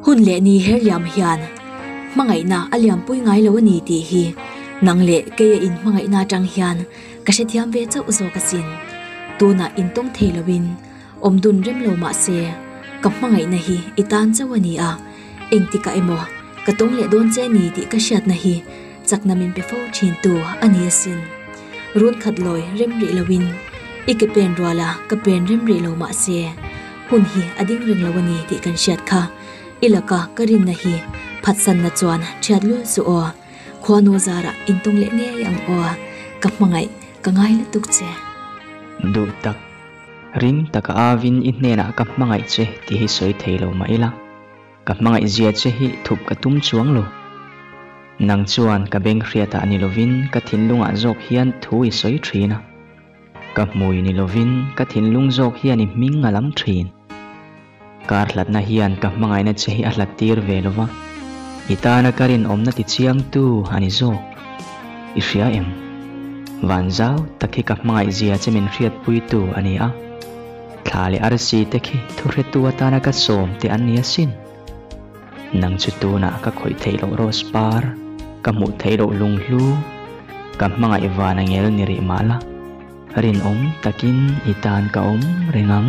Hun leh ni herliam hian hmangaihna a lianpui ngai lo a ni tih hi nang leh keia in hmangaihna atang hian ka hrethiam ve chauh zawk asin. Tunah in tawng thei loin awm dun rem lo mah se, ka hmangaihna hi i tan chauh a ni a, engtikah emaw ka tawng leh dawn che ni tih ka hriatna hi, chakna min pe fo thin tu a ni asin. Run khat lawi rem rih lo in i ke pen rual a ka pen rem rih lo mah se hun hi a ding reng lo a ni tih kan hriat kha. I laka ka rinna hi phatsan na chuan thiat lul suh aw. Khua naw zar ah in tawng leh ngei ang aw. Ka hmangaih ka ngai lutuk che. Duh tak. Ring taka avin i hnenah ka hmangaih che tih hi sawi thei lo mah ila. Ka hmangaih zia che hi thup ka tum chuang lo. Nang chuan ka beng hriatah ni lovin ka thinlungah zawk hian thu i sawi thin a. Ka hmui ni lovin ka thinlung zawk hian i hming ngalam thin. Kar hlatna hian ka hmangaihna che hi a hlat tir ve lo va, i tana ka rinawmna tichiangtu a ni zawk. I hria em? Van zau tak hi ka hmangaih zia che min hriatpuitu a ni a. Thla leh arsi te khi thuhretu atana ka sawm teh an ni asin. Nang chu tunah ka khawih theih loh Rose par, ka hmuh theih loh Lunghlu, ka hmangaih vana ngel ni rih mah la, rinawm takin i tan ka awm reng ang.